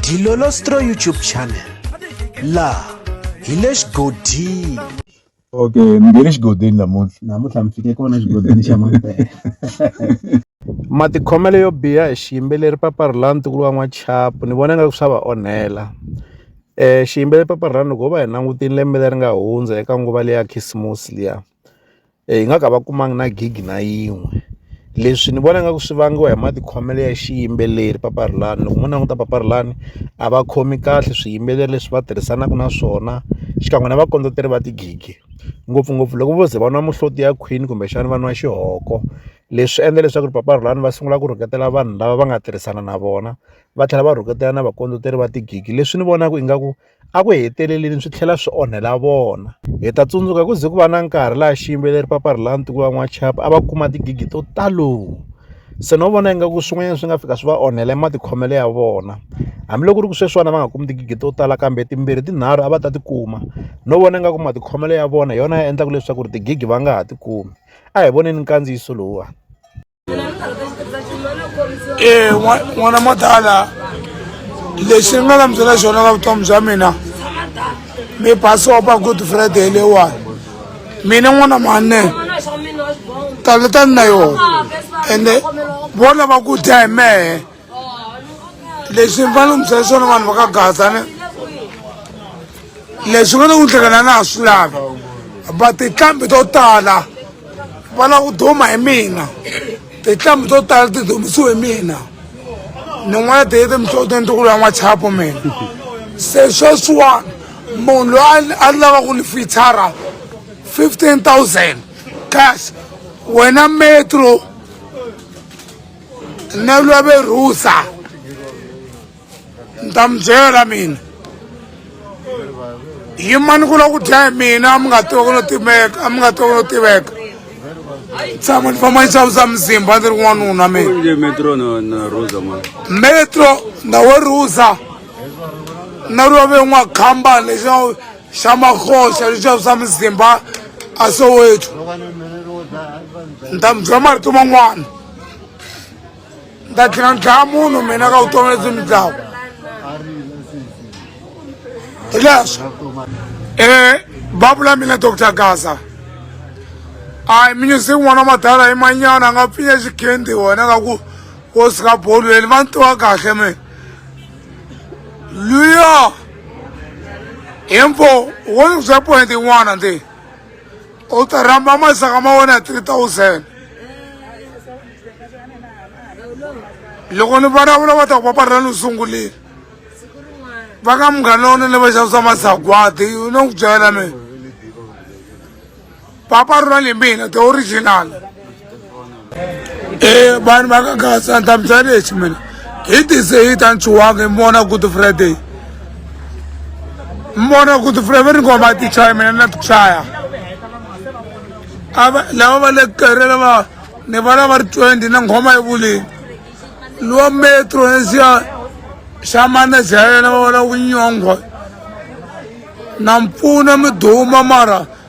Dilolostro YouTube channel la hi le xigodini okay ni nge le xigodini namuntlha namuntlha mi fike kona xigodini xa mampela matikhomelo yo biha hi xiyimbeleri paparhulani tikulu wa n'wachapu ni vona nga ku swa va onhela um xiyimbeleri paparhulani loko ho va hi langutini lembe leri nga hundza eka nguva leya khisimusi liya hi nga ka va kumanga na gig na yin'we leswi ni vona nga ku swi vangiwa hi matikhomelo ya xiyimbeleri papa rilani loko mo languta papa rilani a va khomi kahle swiyimbeleri leswi va tirhisanaka na swona xikan'we na vakondzeri va tigigi ngopfungopfu loko vo ze va nwa muhloti ya khwini kumbexana va nwa xihoko leswi endla leswaku ri papa rilani va sungula ku rhuketela vanhu lava va nga tirhisana na vona va tlhela va rhuketela na vakondzeri va tigigi leswi ni vonaka ingaku Eku heteleleni swi tlhela swi onhela vona. Hi ta tsundzuka ku ze ku va na nkarhi laha xiyimbeleri Paparilani Tiko va N'wachapa a va kuma tigigi to talo. Se no vona ingaku swin'wanyana swi nga fika swi va onhela matikhomelo ya vona. Hambiloko ku ri ku sweswiwani va nga kumi tigigi to tala kambe timbirhi tinharhu a va ta ti kuma. No vona ingaku matikhomelo ya vona hi yona ya endlaka leswaku ri tigigi va nga ha ti kumi. A hi voneni nkandziyiso lowuwani. e n'wana madala lexi ni nga lamusela xona ka vutomi bya mina mi basopa good friday leyiwani mina n'wana mane taleta ni na yona ende vona va ku dya hi mehe leswi ni fanele ni byela swona vanhu va ka gaza ni leswi nga ta ku hlekana na ha swi lavi va tinhlambi to tala va lava ku duma hi mina tinhlambi to tala ti dumisiwe hi mina ni n'wana ti yete mihlotweni ti ku lwa n'wachapo mina se sweswiwani munhu loyi a lava ku ni fitshara fifteen thousand cash wena metro na lwa ve rusa ni ta mi byela mina yimani ku la ku dya hi mina a mi nga tiwa ku no timeka a mi nga tiwa ku no tiveka tshama ni famba ni xavisa mizimba ndzi ri n'wanuna mina metro ndawe rusa na lwa ve n'wakhamba lexi xamakhoxa leswi vavisa muzimba a soweto ni ta mi byela marito man'wana ni ta tlhela ni dlaya munhu mina ka vutomi lebyi mi dlawu hi leswo um eh, babu la mina doctor gaza ayi minyusi n'wana wa madala hi manyana a nga pfinya xikhendi wena ka ku wo sika bolu leni va ni tiva kahle mina luya info wo ni byela point yin'wana ndi u ta rhamba masaka ma wena ya three thousand loko ni vulavula va ta ku paparela ni sungulile va ka munghana lowunene va xavisa masagwadi u no ku byela mina papa rona le mina the original e vanhu va ka gasa ndhamisa lexi mina hi tise hi ta nchuwanga hi mona good friday mona good friday va ri ngo va ti chaya mina na ti chaya ava lava va le kerela va ni va lava ri twenty na nghoma yi vulini luwa metro nesiya xa manaja ya yena va va lava ku nyonghwa na mpfuna mi duma mara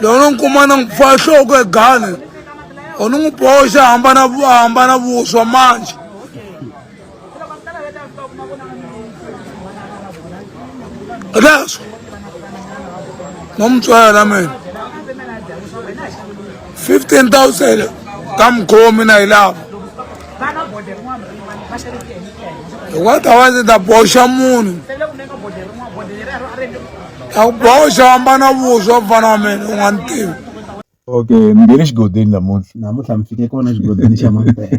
loko no n'wi kuma na n'wi pfa nhloko egane or ni n'wi boxa hambana hambana vuswa manje leswo no mi tswela mina fifteen thousand ka mukhomi na yi lava hikwata wa ndzi ta boxa munhu ta ku boxa wambana vuswa mfana wa mina u nga ni tivi okay mi nge le xigodini namuntlha namuntlha mi fike kona xigodini xa mampela